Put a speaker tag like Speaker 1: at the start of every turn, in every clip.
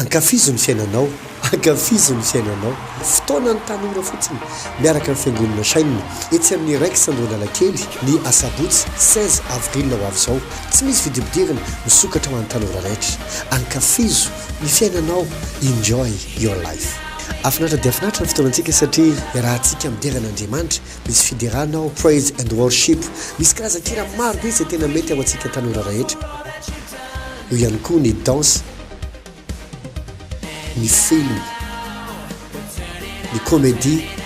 Speaker 1: Ankafizo ny fiainanao, ankafizo ny fiainanao. Fotoanan'ny tanora fotsiny, miaraka amin'ny Fiangonana Shine, etsy amin'ny Rex Andohanalakely, ny asabotsy seize avril ho avy izao. Tsy misy vidibidirana, misokatra ho an'ny tanora rehetra. Ankafizo ny fiainanao, enjoy your life. Afinaritra dia afinaritra ny fotoanantsika satria iarahantsika midera an'Andriamanitra, misy fiderana ao Praise and Worship, misy karazan-kira maro be izay tena mety ho antsika tanora rehetra, eo ihany koa ny danse. ny film, ny comedie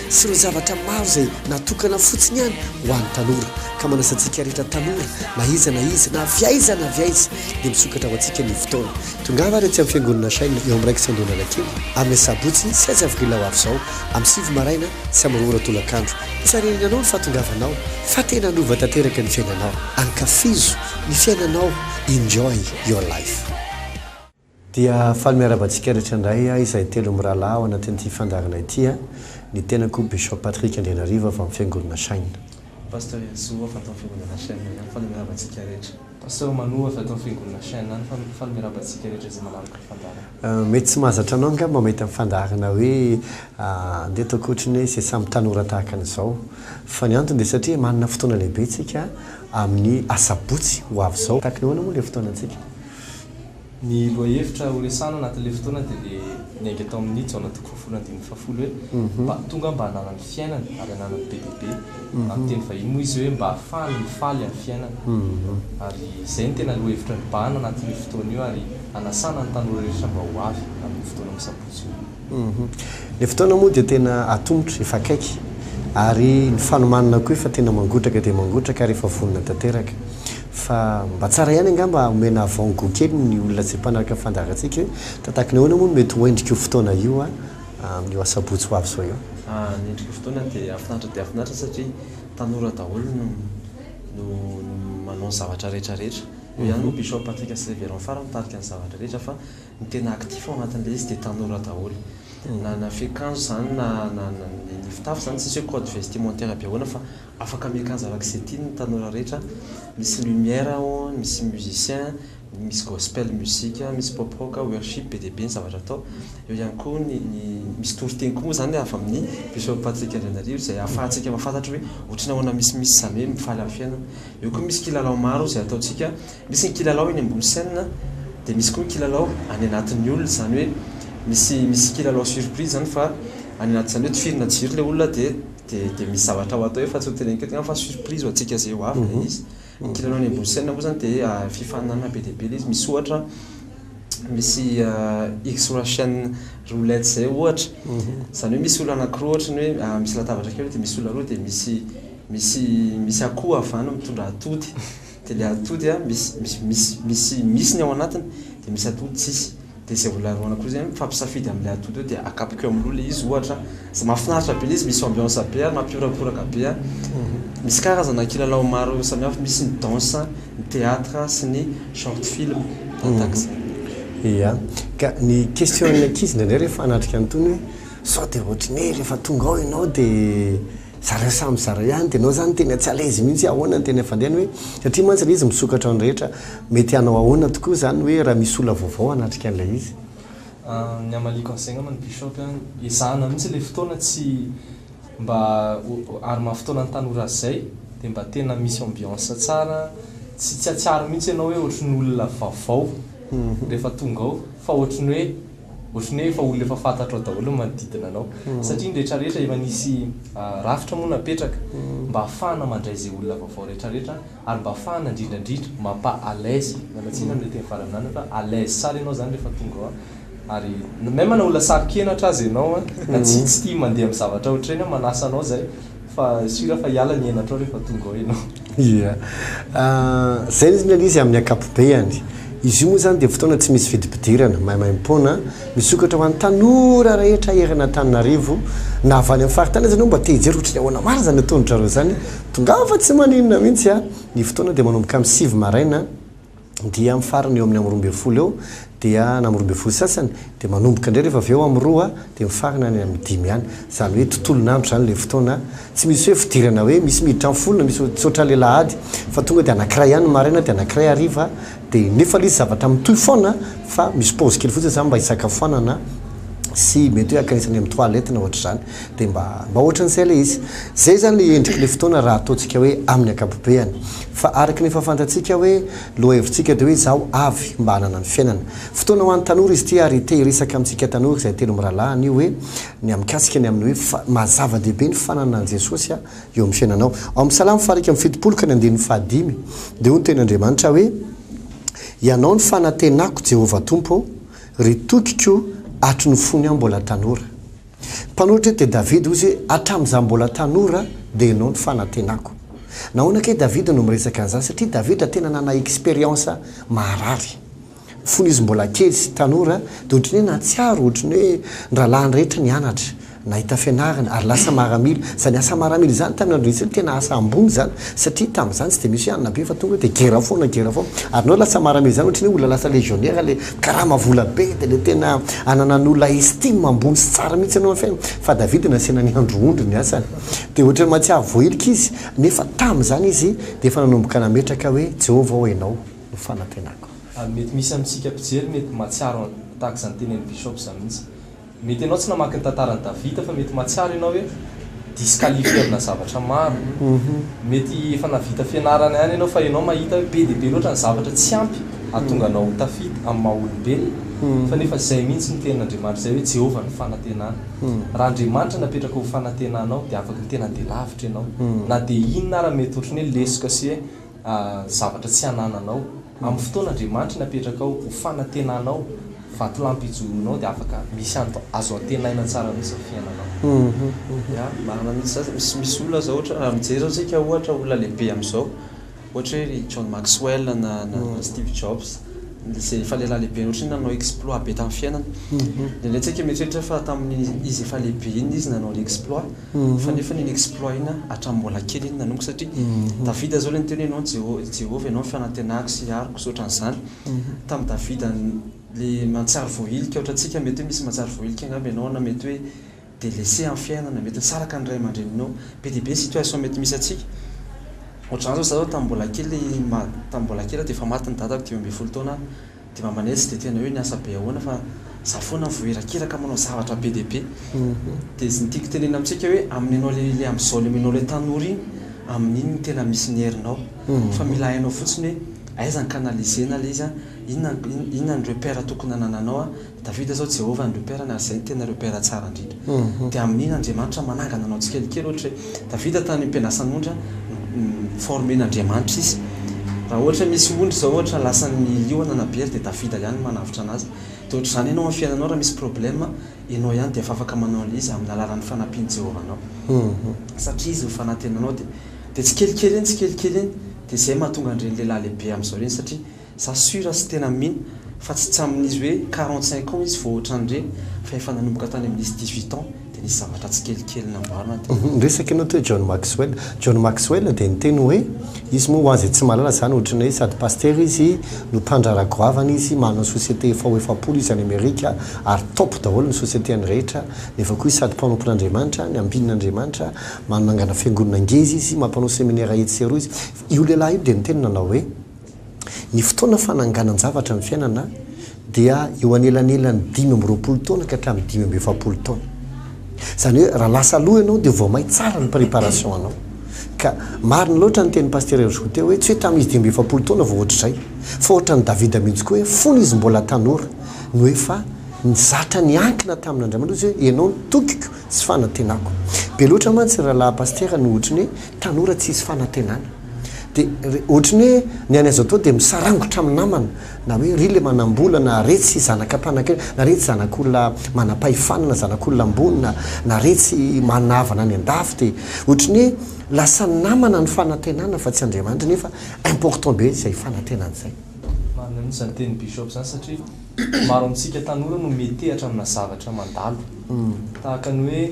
Speaker 1: sy ireo zavatra maro izay natokana fotsiny ihany ho an'ny tanora ka manasa antsika rehetra tanora na iza na iza na avy aiza na avy aiza dia misokatra ho antsika ny fotoana. Tongava ary aty amin'ny fiangonana Shine eo amin'ny raikitra Andohan'Anakely amin'ny asabotsy saizy avril ho avy izao amin'ny sivy maraina sy amin'ny roa ora tolakandro. Tsy harenenanao ny fahatongavanao fa tena hanova tanteraka ny fiainanao. Ankafizo. ny fiainanao enjoy your life. Dia faly miarahaba antsika rehetra indray aho izay telo mirahalahy ao anatin'ity fandaharana ity a! Ny tenako Bishop Patrick Andrianarivo avy amin'ny Fiangonana Shine. Pasteur Erisoa
Speaker 2: avy ato amin'ny Fiangonana Shine ihany, faly miarahaba antsika rehetra. Pasteur Manu avy ato amin'ny Fiangonana Shine ihany, faly faly miarahaba antsika rehetra izay manaraka ny fandaharana. Mety tsy mahazatra anao
Speaker 1: angamba mahita ny fandaharana hoe andeha ataoko ohatry ny hoe izay samy tanora tahaka an'izao. Fa ny antony dia satria manana fotoana lehibe tsika. amin'ny asabotsy ho avy izao. Takin'ny ahoana moa ilay fotoanantsika?
Speaker 2: Ny lohahevitra horesahana anatin'ilay fotoana dia ilay niainga tao amin'ny Jaona toko fahafolo andininy fahafolo hoe, mba tonga mba hananany fiainana ary hananany be dia be. Amin'ny teny vahiny moa izy hoe mba hahafahany mifaly amin'ny fiainana. Ary izay no tena lohahevitra nibahana anatin'io fotoana io ary hanasana ny tanora rehetra mba ho avy amin'io fotoana misabotsy io. Ilay fotoana moa
Speaker 1: dia tena atomotra, efa akaiky, ary ny fanomanana koa efa tena mangotraka dia mangotraka ary efa vonona tanteraka. Fa mba tsara ihany angamba omena avant goût kely ny olona izay mpanaraka ny fandaharantsika hoe tahaka ny ahoana moa no mety ho endrik'io fotoana io amin'io asabotsy ho avy izao io? Ny endrik'io fotoana
Speaker 2: dia hahafinaritra dia hahafinaritra satria tanora daholo no no manao ny zavatra rehetra rehetra. Io ihany moa Bishop Patrick sy Reverend Fara mitarika ny zavatra rehetra fa. Ny tena actif ao anatin'ilay izy dia tanora daholo. Na na fiakanjo izany na na na ny fitafy izany tsisy hoe code vestimentaire be ahoana fa afaka miakanjo araka izay tiany ny tanora rehetra. Misy lumière ao, misy musicien, misy gospel music, misy pop rock, worship, be dia be ny zavatra atao. Eo ihany koa ny ny misy toriteny koa moa izany avy amin'ny Bishop Patrick Andrianarivo izay ahafahantsika mahafantatra hoe ohatry ny ahoana misimisy izany hoe mifaly amin'ny fiainana. Eo koa misy kilalao maro izay ataontsika Misy ny kilalao eny ambony scène dia misy koa ny kilalao any anatin'ny olona izany hoe misy misy kilalao surprise izany fa any anaty izany hoe tifirina jiro ilay olona dia dia dia misy zavatra ho atao eo fa tsy ho teneniko eto fa surprise ho antsika izay ho avy ilay izy. Ny kilalao any ambony scène moa izany dia fifaninanana be dia be ilay izy misy ohatra misy X Russian roulette izay ohatra izany hoe misy olona anakiroa ohatra ny hoe misy latabatra kely dia misy olona roa dia misy misy misy akoho avy any mitondra atody. Dia le atody a misy misy misy misy misy ny ao anatiny dia misy atody tsisy dia izay olona roana koa zay a mifampisafidy amle atody eo dia akapoka eo amloha le izy ohatra a mafinaritra be le izy misy ambiance be ary mampihorakoraka be a misy karazana kilalao maro samihafa misy ny danse ny theatre sy ny short film tahak'izany.
Speaker 1: Ia, ka ny question an'ny ankizy indraindray rehefa hanatrika an'itony hoe sao dia ohatry ny hoe rehefa tonga ao ianao dia Zareo samy zareo ihany dia enao zany tena tsy alaizy mihitsy ahoana ny tena fandehany hoe satria mantsy ilay izy misokatra ny rehetra mety hanao ahoana tokoa izany hoe raha misy olona vaovao hanatrika an'ilay izy? Ny
Speaker 2: hamaliako an'izay angamba ny bishop an, ezahana mihitsy ilay fotoana tsy mba ary maha fotoana ny tanora azy izay dia mba tena misy ambiance tsara tsy tsy atsiaro mihitsy enao hoe ohatry ny olona vaovao rehefa tonga ao fa ohatry ny hoe Ohatry ny hoe efa olona efa fantatrao daholo ny manodidina anao. Satria ny rehetra rehetra efa nisy rafitra moa napetraka mba hahafahana mandray izay olona vaovao rehetra rehetra ary mba hahafahana indrindra indrindra mampa à l'aise, miala tsiny amin'ilay teny farany nilany fa à l'aise tsara ianao izany rehefa tonga ao ary même na ho lasary kenatra aza ianao an, na tsy tia mandeha amin'ny zavatra ohatry ireny an, manasa anao izay Fa sûr fa hiala ny henatrao rehefa
Speaker 1: tonga ao ianao. Ia. Izay ny rinala izy amin'ny ankapobeany. Izy io moa izany dia fotoana tsy misy fidipidirana, maimaimpoana, misokatra ho an'ny tanora rehetra eran'Antananarivo, na avy any amin'ny faritany aza ianao mba te hijery ohatry ny ahoana marina izany ataon-dry zareo izany, tongava tsy maninona mihitsy. Ny fotoana dia manomboka amin'ny sivy maraina. dia amin'ny farany eo amin'ny amin'ny roa ambin'ny folo eo dia na amin'ny roa ambin'ny folo sasany dia manomboka indray rehefa avy eo amin'ny roa dia mifarana any amin'ny dimy any izany hoe tontolon'andro izany ilay fotoana tsy misy hoe fidirana hoe misy miditra amin'ny folo na misy tsy ohatran'ny ilay lahady fa tonga dia anankiray ihany ny maraina dia anankiray hariva dia nefa ilay izy zavatra mitohy foana fa misy pause kely fotsiny izany mba hisakafoanana sy mety hoe ankainisany amin'ny toilette na ohatr'izany Dia mba mba ohatran'izay ilay izy. Izay izany ilay endrik'ilay fotoana raha ataontsika hoe amin'ny ankapobeany. Fa araka ny efa fantatsika hoe lohahevitsika dia hoe izaho avy mba hanana ny fiainana. Fotoana ho an'ny tanora izy ity ary te hiresaka amintsika tanora izay telo mirahalahy anio hoe ny mikasika ny amin'ny hoe fa maha zava-dehibe ny fananana an'i Jesosy eo amin'ny fiainanao. Ao amin'ny Salamo fahairika amby fitopolo ka ny andininy fahadimy dia hoy ny tenin'Andriamanitra hoe Ianao no fanantenako Jehovah Tompo ô, ry tokiko hatry ny fony aho mbola tanora. Mpanoratra eto dia Davida, hoy izy, Hatramin'izaho mbola tanora dia ianao no fanantenako. Nahoana kay Davida no miresaka an'izany? Satria Davida tena nanana expérience maharary. Fony izy mbola kely sy tanora dia ohatry ny hoe nahatsiaro ohatry ny hoe ny rahalahiny rehetra nianatra, nahita fianarana ary lasa maramila. Izany asa maramila izany tamin'ny andron'i Jesoa dia tena asa ambony izany satria tamin'izany tsy dia misy hoe hanina be fa tonga dia gera foana, gera foana. Ary nareo lasa maramila izany ohatry ny hoe olona lasa légionnaire ilay. Karama vola be dia le tena ananan'olona estime ambony sy tsara mihitsy ianao anfe fa David nasiana ny andro ondry ny asany dia ohatran'ny mahatsiaro voahilika izy nefa tamin'izany izy dia efa nanomboka nametraka hoe Jehovah ô ianao no fanantenako. Mety misy
Speaker 3: amintsika mpijery mety mahatsiaro tahaka izany tenenin'i Bishop izany mihitsy. Mety ianao tsy namaky ny tantaran'i Davida fa mety mahatsiaro ianao hoe disqualifié amina zavatra maro. Mety efa nahavita fianarana ihany ianao fa ianao mahita hoe be dia be loatra ny zavatra tsy ampy hahatonga anao ho tafita amin'ny maha olombelona. Fa nefa izay mihitsy no tenin'Andriamanitra izay hoe Jehovah no fanantenana. Raha Andriamanitra no apetraka ho fanantenanao dia afaka ny tena handeha lavitra ianao na dia inona ary mety ohatran'ny hoe lesoka sy hoe zavatra tsy anananao. Amin'ny fotoana Andriamanitry ny apetrakao ho fanantenanao, vatolampy ijoroanao dia afaka misy anto azo antenaina tsara mihitsy ny fiainanao. Ya, marina
Speaker 2: mihitsy izany, misy misy olona zao ohatra raha mijery zao tsika ohatra olona lehibe amizao, ohatra hoe ry John Maxwell na na Steve Jobs, izay efa lehilahy lehibe ohatra hoe nanao exploit be tamin'ny fiainany, ndraindray tsika mieritreritra fa tamin'ny izy efa lehibe iny izy nanao le exploit, fa nefa iny exploit iny hatramin'ny mbola kely iny nanomboka satria Davida zao le niteny hoe ianao Jeho- Jehovah ianao ny fanantenako sy aroko sy ohatran'izany tamin'i Davida n- le mantsary voahilika ohatrantsika mety hoe misy mantsary voahilika angamba ianao na mety hoe delaissé amin'ny fiainana mety hoe tsy araka ny ray aman-dreninao be dia be ny situation mety misy antsika ohatran'izany zao za zao tamin'ny mbola kely ma- tamin'ny mbola kely aho dia efa maty ny dadako dimy ambin'ny folo taona aho Dia mba manetsy dia tena hoe niasa be ahoana fa za foana vao irakiraka manao zavatra be dia be. Dia izy ny tiako tenenina amintsika hoe amin'ny anao le le amizao le menao le tanora iny amin'iny no tena misy ny herinao fa mila hainao fotsiny hoe aiza ny canaliser na le izy a inona inona ny repère tokony anananao a Davida zao Jehovah no repère-ny ary izay no tena repère tsara indrindra. Dia amin'iny Andriamanitra manangana anao tsikelikely ohatra hoe Davida tany am-pianasan'ondry no-former-n'Andriamanitra izy. Raha ohatra hoe misy ondry zao ohatra lasan'ny liona na bery dia Davida ihany no manavotra anazy. Dia ohatr'izany ianao amin'ny fiainanao raha misy problème ianao ihany dia efa afaka manao an'ilay izy amin'ny alalan'ny fanampian'i Jehovah anao. Satria izy no fanantenanao dia dia tsikelikely iny tsikelikely iny dia izay mahatonga an'ireny lehilahy lehibe amin'izao ireny satria Za sur sy tena mino fa tsy tsamin'izy hoe quarante cinq ans izy vao ohatran'ny re fa efa nanomboka tany amin'izy dix huit ans dia nisy zavatra tsikelikely nambarana dia Ny resaka ianao teo
Speaker 1: John Maxwell, John Maxwell dia niteny hoe izy moa ho azy tsy mahalala izany ohatran'ny hoe sady pasitera izy no mpandraharaha goavana izy manana société efa ho efapolo izy any Amerika ary top daholo ny sociétény rehetra nefa koa izy sady mpanompon'Andriamanitra ny ambinin'Andriamanitra manangana fiangonana ngeza izy mampanao seminera etsy sy eroa izy io lehilahy io dia niteny nanao hoe Ny fotoana fananganan-javatra ny fiainana dia eo anelanelan'ny dimy amby roapolo taona ka hatramin'ny dimy amby efapolo taona. Izany hoe raha lasa aloha ianao dia vao may tsara ny préparation anao. Ka marina loatra ny tenin'i Pasitera Herzko teo hoe tsy hoe tamin'izy dimy amby efapolo taona vao ohatr'izay fa ohatran'i Davida mihitsy koa hoe fony izy mbola tanora no efa nizatra niankina tamin'Andriamanitra izy hoe ianao no tokiko sy fanantenako. Be loatra mantsy ny rahalahy Pasitera no ohatry ny hoe tanora tsy hisy fanantenana. Dia ohatry ny hoe ny anay zao toa dia misarangotra amin'ny namana na hoe ry le manambola na re tsy zanaka mpanakarena na re tsy zanak'olona manampahefana na zanak'olona ambony na na re tsy manana havana any an-dafy dia ohatry ny hoe lasa namana ny fanantenana fa tsy Andriamanitra nefa important be izay fanantenana izay. Marina mihitsy izany
Speaker 3: tenin'i Bishop izany satria maro amintsika tanora no mihetehatra amina zavatra mandalo tahaka ny hoe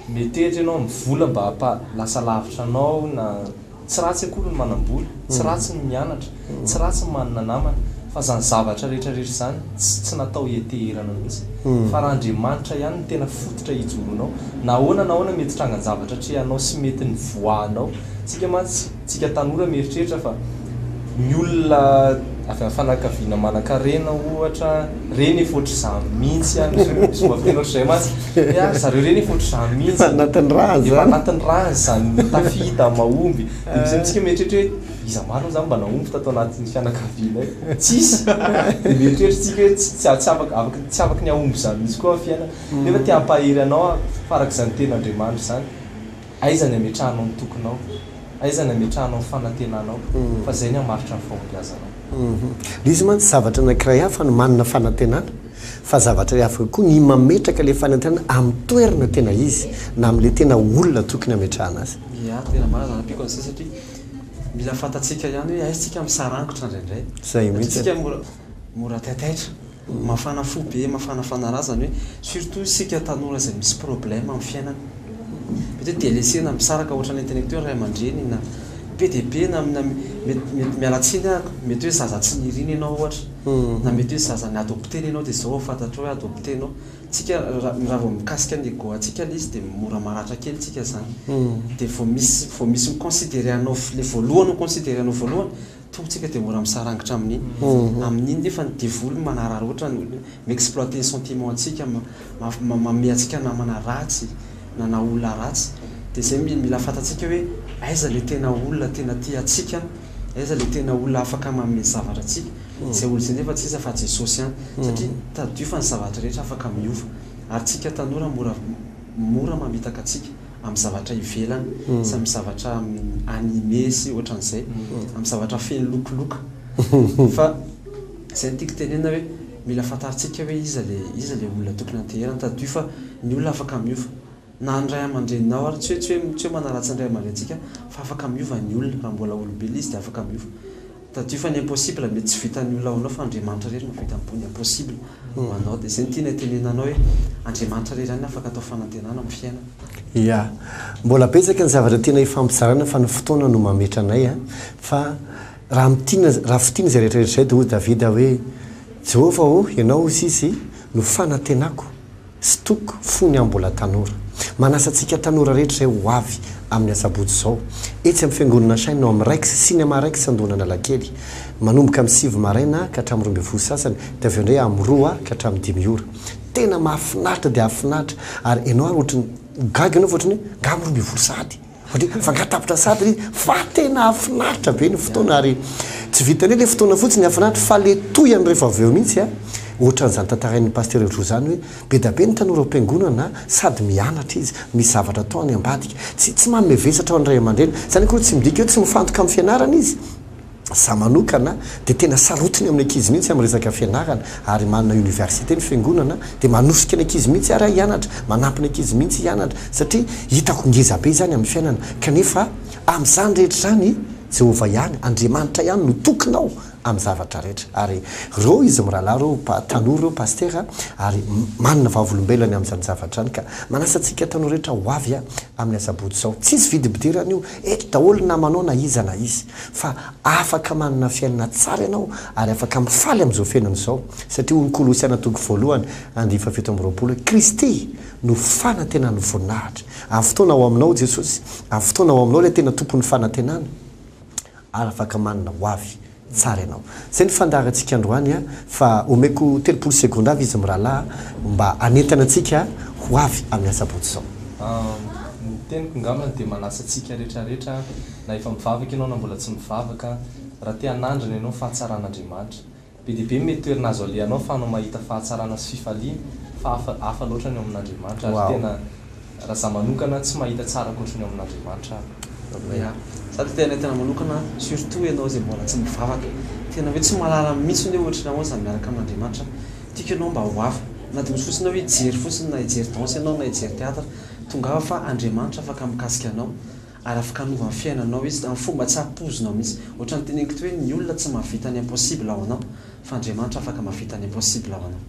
Speaker 3: Metety ianao amin'ny vola mba hampa lasa lavitra anao na Tsy ratsy akory ny manam-bola, tsy ratsy ny mianatra, tsy ratsy ny manana namana, fa izany zavatra rehetra rehetra izany tsy tsy natao hianteherana mihitsy. Fa raha Andriamanitra ihany no tena fototra hijoroanao, na ahoana na ahoana mety hitrangan-javatra atrehanao sy mety ny voahanao, isika mantsy, Tsika tanora mieritreritra fa ny olona avy am fanakaviana manankarena ohatra reny efa ohatr'izany mihintsy an misy omba fiteny ohatr'izay mantsy hoe a ry zareo reny efa ohatr'izany mihintsy an efa anatin'ny ràny zany efa
Speaker 1: anatin'ny ràny
Speaker 3: zany tafita mahomby dia misy amintsika mieritreritra hoe iza marina izany mba nahomby tato anatin'ny fianakavianay tsisy dia mieritreritra tsika hoe tsy tsy tsy afaka afaka tsy afaka ny hahomby izany mihintsy koa ny fiainana nefa te hampahery anao aho fa arak'izany tenin'Andriamanitra izany Aiza ny ametrahanao ny tokinao? Aiza ny ametrahanao ny fanantenanao? Fa izay ny hamaritra ny fahombiazanao. Ilay izy
Speaker 1: mantsy zavatra anankiray hafa ny manana fanantenana, fa zavatra hafa koa ny mametraka ilay fanantenana amin'ny toerana tena izy, na amin'ilay tena olona tokony hametrahana azy. Ia, tena marina izany amiko
Speaker 2: an'izay satria mila fantatsika ihany hoe aiza isika misarangotra indraindray. Izay mihitsy. Mora taitaitra, mafana fo be, mafana fanarazana hoe surtout isika tanora izay misy problème amin'ny fiainana. Mety hoe delesena, misaraka ohatran'ny intellectuel ray aman-dreny na be dia be na mety mety miala tsiny aho, mety hoe zaza tsy nirina ianao ohatra na mety hoe zaza ni-adopter-na ianao dia izao vao fantatrao hoe adopter-nao. Isika raha raha vao mikasika ny ego antsika ilay izy dia mora maratra kely isika izany. Dia vao misy vao misy mi-considerer anao ilay voalohany ho considerer-nao voalohany, Tompo tsika dia mora misarangitra amin'iny amin'iny nefa ny devoly manararaotra ny olona mi exploiter ny sentiment antsika manome antsika namana ratsy na na olona ratsy dia zay mila fantatsika hoe aiza le tena olona tena tia antsika aiza le tena olona afaka manome zavatra antsika zay olona zay nefa tsy iza fa Jesosy ihany satria tadidio fa ny zavatra rehetra afaka miova ary tsika tanora mora mora mamitaka antsika amin'ny zavatra ivelany sy amin'ny zavatra animé sy ohatran'izay, amin'ny zavatra feno lokoloka. Fa izay no tiako tenenina hoe mila fantarintsika hoe iza ilay iza ilay olona tokony hanteherany. Tadidio fa ny olona afaka miova. Na ny ray aman-dreninao ary, tsy hoe tsy hoe tsy hoe manaratsy ny ray aman-drenintsika fa afaka miova ny olona. Raha mbola olombelona izy dia afaka miova. Tadidio fa ny impossible mety tsy vitan'ny olona ho anao fa Andriamanitra irery no vita miboha ny impossible ho anao dia izay no tiana hitenenana anao hoe Andriamanitra irery ihany no afaka atao fanantenana amin'ny fiainana. Ia. Mbola
Speaker 1: betsaka ny zavatra tiana hifampizarana fa ny fotoana no mametra anay a! Fa raha mitiana, raha fitiana izay rehetra rehetra izay dia hoy Davida hoe Jehovah ô, ianao hoy izy, no fanantenako. Stock fony aho mbola tanora. Manasa antsika tanora rehetra izay ho avy amin'ny asabotsy izao. Etsy amin'ny fiangonana Shine ao amin'ny Rex, Cinema Rex Andohan'Analakely. Manomboka amin'ny sivy maraina ka hatramin'ny roa ambin'ny folo sasany dia avy eo indray amin'ny roa ka hatramin'ny dimy ora. Tena mahafinaritra dia hahafinaritra ary ianao ary ohatran'ny ho gaga ianao fa ohatran'ny hoe ngaha amin'ny roa ambin'ny folo sahady? Mandeha mifangatapitra sahady le fa tena hafinaritra be ny fotoana ary tsy vitan'ny hoe le fotoana fotsiny hafinaritra fa le tohiny rehefa avy eo mihitsy a! Ohatran'izany tantarain'ny Pasteur Helojoe zany hoe be da be ny tanora ao am-piangonana sady mianatra izy, misy zavatra atao any ambadika. Tsy tsy manome vesatra ho an'ny ray aman-dreny. Zany akory tsy midika hoe tsy mifantoka amin'ny fianarana izy. Za manokana dia tena sarotiny amin'ny ankizy mihitsy amin'ny resaka fianarana ary manana université ny fiangonana dia manosika ny ankizy mihitsy ary aho hianatra, manampy ny ankizy mihitsy hianatra satria hitako ngeza be izany amin'ny fiainana kanefa amin'izany rehetra izany Jehovah ihany, Andriamanitra ihany no tokinao amin'ny zavatra rehetra ary reo izy mirahalahy reo, tanora reo Pastera ary manana vavolombelany amin'izany zavatra izany ka manasa antsika tanora rehetra ho avy amin'ny asabotsy izao, tsisy vidim-pidirana io, eto daholo na manao na iza na iza. fa afaka manana fiainana tsara ianao ary afaka mifaly amin'izao fiainana izao, satria hoy ny Kolosiana toko voalohany andinin'ny fahafito amby roapolo hoe, Kristy no fanantenan'ny voninahitra. Amin'ny fotoana ao aminao Jesosy, amin'ny fotoana ao aminao ilay tena Tompon'ny fanantenana, ary afaka manana ho avy tsara ianao. Izay ny fandaharantsika androany an, fa omeko telopolo segondra avy izy mirahalahy mba hanentana antsika ho avy amin'ny asabotsy izao. Ny
Speaker 3: teniko ngambany dia manasa antsika rehetra rehetra na efa mivavaka ianao na mbola tsy mivavaka, raha te hanandrana ianao fahatsaran'Andriamanitra, be dia be ny mety toerana azo alehanao afahanao mahita fahatsarana sy fifaliana, fa hafa hafa loatra ny ao amin'Andriamanitra, ary tena raha za manokana tsy mahita tsara ankoatry ny ao amin'Andriamanitra aho. Ya,
Speaker 2: za dia tena tena manokana surtout ianao izay mbola tsy mivavaka, tena hoe tsy mahalala mihitsiny hoe ohatry ny ahoana izany miaraka amin'Andriamanitra, tiako ianao mba ho hafa, na dia misy fotsiny hoe hijery fotsiny na hijery danse ianao na hijery theatre, tongava fa Andriamanitra afaka mikasika anao. Ara-fikanova ny fiainanao izy, amin'ny fomba tsy ampoizinao mihitsy. Ohatran'ny teneniko teo hoe ny olona tsy mahavita ny impossible ho anao, fa Andriamanitra afaka mahavita ny impossible ho anao.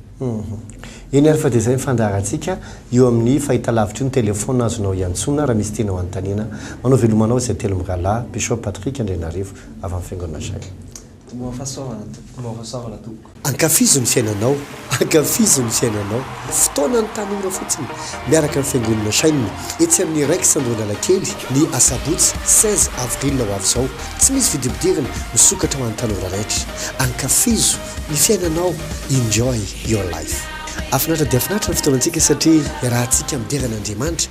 Speaker 2: Eny ary fa
Speaker 1: dia izay ny fandaharantsika io amin'ny fahitalavitra io ny téléphone azonao iantsoana raha misy tianao hanontaniana. Manao veloma anao izay telo mirahalahy, Bishop Patrick Andrianarivo avy amin'ny Fiangonana Shine. Moa fa
Speaker 2: saovana tompoko
Speaker 3: Moa fa saovana tompoko. Ankafizo ny fiainanao
Speaker 1: Ankafizo ny fiainanao. Fotoanan'ny tanora fotsiny miaraka amin'ny fiangonana Shine etsy amin'ny Rex Andohanalakely ny asabotsy seize avril ho avy izao. Tsy misy vidibidirana, misokatra ho an'ny tanora rehetra. Ankafizo ny fiainanao Enjoy your life. Hafinaritra dia hafinaritra ny fotoanantsika satria iarahantsika midera an'Andriamanitra.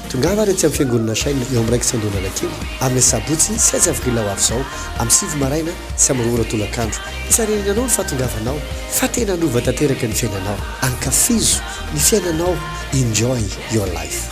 Speaker 1: Tongava ary aty amin'ny Fiangonana Shine eo amin'ny raikitra Andohan'Anakely amin'ny asabotsy sy azavril ho avy izao amin'ny sivy maraina sy amin'ny roa ora tolakandro. Hisarinana anao ny fahatongavanao fa tena hanova tanteraka ny fiainanao. Ankafizo ny fiainanao, enjoy your life.